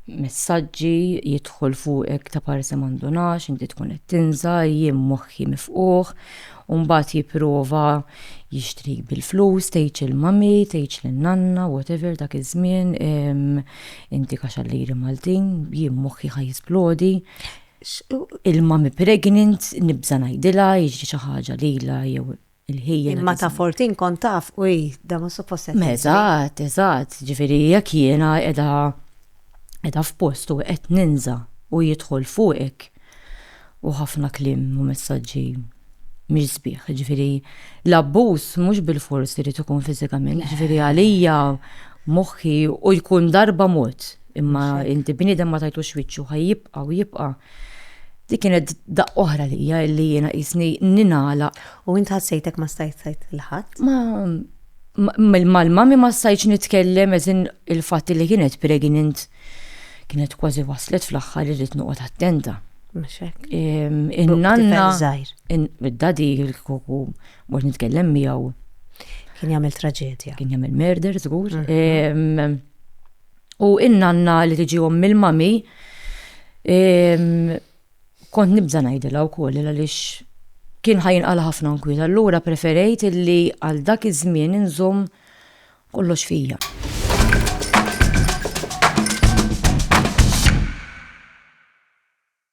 messaġġi, jidħol fuqek ta' parsi ma ndunax, inti tkun qed tinża', jien moħħi mifqugħ, u mbagħad jipprova jixtrik bil-flus, tgħidx il-mummy, tgħidx lin-nanna, whatever dak iż-żmien, inti kaxallieri Maltin, jien moħħi ħa jisplodi, il-mummy pregnant, nibża' ngħidilha, jiġri xi ħaġa lilha jew. il-ħija. Imma ta' fortin kont taf u da ma suppost. Eżatt, eżatt, ġifieri jekk jiena qiegħda qiegħda f'post u qed ninża u jidħol fuqek u ħafna kliem u messaġġi mhix sbieħ, ġifieri l-abbuż mhux bil-fors irid ikun fiżikament, ġifieri għalija moħħi u jkun darba mod imma inti bniedem ma tajtux wiċċu ħajjibqa' u jibqa' Dik kienet daqq oħra lija illi jiena qisni ninala. U int ħassejtek ma stajt tajt il-ħadd? Ma mal-mami ma stajtx nitkellem eżin il-fatt li kienet pregnant kienet kważi waslet fl-aħħar irrid noqgħod attenta. In-nanna id-dadi il-kuku mhux nitkellem miegħu. Kien jagħmel traġedja. Kien jagħmel murder żgur. Mhm. U in-nanna li tiġi ommi l-mami, kont nibża ngħidilha wkoll għaliex kien ħajinqala ħafna nkwiet. Allura preferejt illi għal dak iż-żmien inżomm kollox fija.